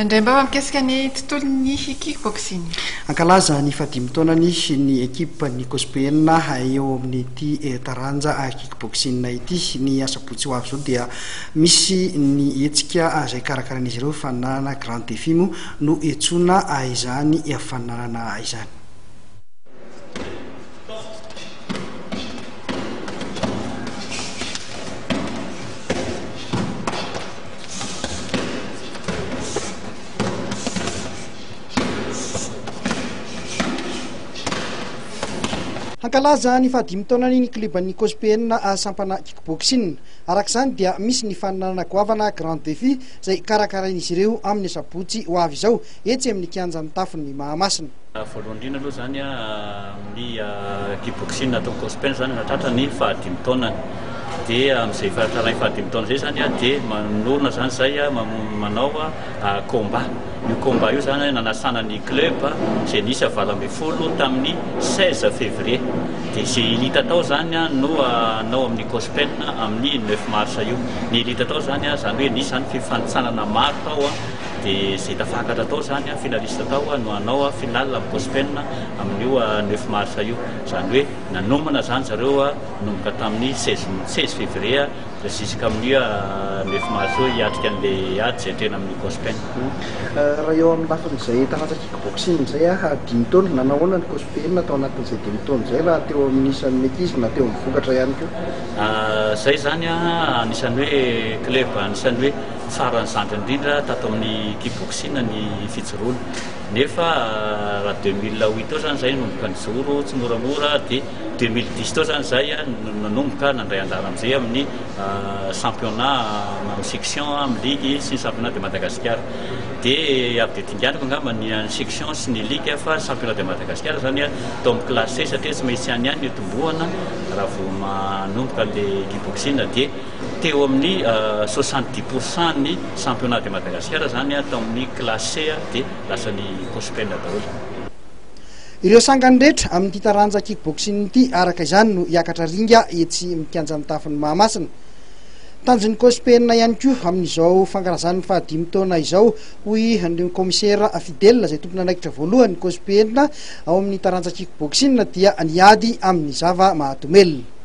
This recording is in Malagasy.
Indray mbaoa mikasika ny tontolon'ny kick boxing. Hankalaza ny fahadimy taonany ny ekipa ny Cospeena eo amin'ity taranja kick boxing ity. Ny asabotsy ho avy izao dia misy ny hetsika izay karakarain'izy ireo fananana grand défi moa no iantsoana izany fananana izany. Hankalaza ny fahadimy taonany ny kleban'ny Cospn sampana kickboxing. Araka izany dia misy ny faninanana goavana Grand Défi izay karakarain'izy ireo amin'ny asabotsy ho avy izao etsy amin'ny kianjan'ny Tafon'ny Mahamasina. Voalohany indrindra aloha izany an. Ny kiboksina nataon'i Cospin izany nahatratra ny fahadimy taonany. Dia amin'izay fahatranay fahadimy taona izay izany dia manorina izany izay manao combat. Io combat io izany nanasana ny club izay niisa valo ambin'ny folo tamin'ny seize février. Dia izay hita tao izany no hanao amin'i Cospin amin'ny neuf mars io. Ny hita tao izany izany hoe nisy izany fifanintsanana maro tao dia izay tafakatra tao izany finaliste tao no hanao finale amin'i Cospin. amin'io neuf mars io, izany hoe nanomana izany zareo nanomboka tamin'ny seize seize février jusqu'amin'io neuf mars io hiatrika an'ilay ady izay tena amin'ny COSPEN. Raha eo amin'ny lafin'izay taranja kickboxing izay aho, dimy taona, nanahoana ny COSPEN tao anatin'izay dimy taona izay raha teo amin'ny isan'ny ankizy na teo amin'ny vokatra ihany koa? Izay izany anisan'ny hoe club anisan'ny hoe faran'ny zandry indrindra tato amin'ny kickboxing ny fijoroana. Nefa raha deux mille huit tao zany zay nanomboka nijoro tsimoramora dia deux mille dix tao zany zay no nanomboka nandray anjara amizay amin'ny championnat amin'ny section amin'ny ligue sy ny championnat de Madagasikara dia avy dia dinganiko angamba ny an'ny section sy ny ligue fa championnat de Madagasikara zany tao amin'ny classe satria tsy maintsy any ihany no itombohana raha vao manomboka le kick boxing dia Teo amin'ny soixante dix pour cent ny championnat de Madagascar izany an, tao amin'ny classe C dia lasa ny Cospel daholo. Ireo sangany rehetra amin'ity taranja kickboxing ity araka izany no hiakatra ringa etsy amin'ny kianja mitafon'i Mahamasina. Tanjon'ny Cospel ihany koa amin'izao fankalazan'ny fahadimy taona izao hoy ny Kaomisera Fidèle izay tompon'andraikitra voalohan'ny Cospel ao amin'ny taranja kickboxing dia ny ady amin'ny zava-mahadomelina.